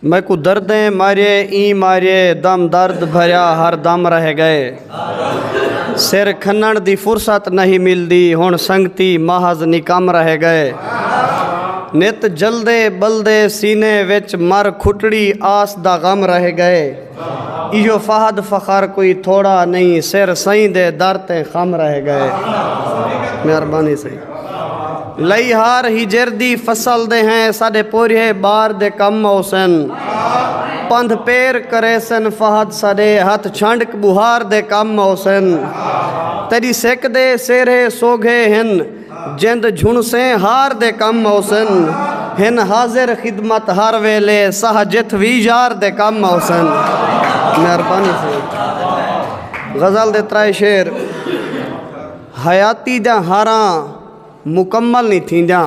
میکوں دردیں ماریے ایں ماریے دم درد بھریا ہر دم رہ گئے سر کھنن دی فرصت نہیں ملدی ہن سنگتی محض نکم رہ گئے نت جلدے بلدے سینے وچ مر کھٹڑی آس دا غم رہ گئے ایہو فہد فخر کوئی تھوڑا نئیں سر سئیں دے در تے خم رہ گئے مہربانی سئیں لئی ہار ہجر دی فصل دے ہیں ساڈے پوریے بار دے کم اوسن پندھ پیر کرے سن فہد ساڈے ہتھ چھنڈک بہار دے کم اوسن تیری سک دے سیرے سوگھے ہن جند جھنسیں ہار دے کم اوسن ہن حاضر خدمت ہر ویلے ساہ جتھ وی یار دے کم اوسن مہربانی سائیں غزل دے ترائے شعر حیاتی دیاں ہاراں مکمل نہیں تھیندیاں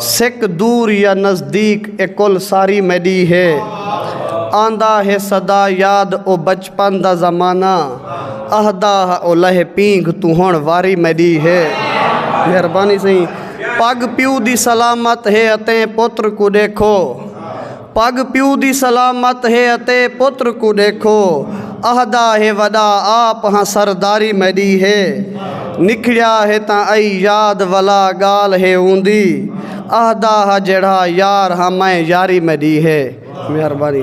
سک دور یا نزدیک اے کل ساری میڈی ہے آندہ ہے سدا یاد او بچپن دا زمانہ اہدا ہا او لہ پینگ تو ہون واری میڈی ہے مہربانی سہی پگ پیو دی سلامت ہے اتیں پتر کو دیکھو پڳ پیو دی سلامت ہے اتے پتر کوں ݙیکھو اہدا ہے وݙا آپ ہاں سرداری میݙی ہے نکھڑیا ہے تاں ائی یاد ولا ڳالھ ہے اوندی اہدا ہا جیڑھا یار ہاں میں یاری میݙی ہے مہربانی۔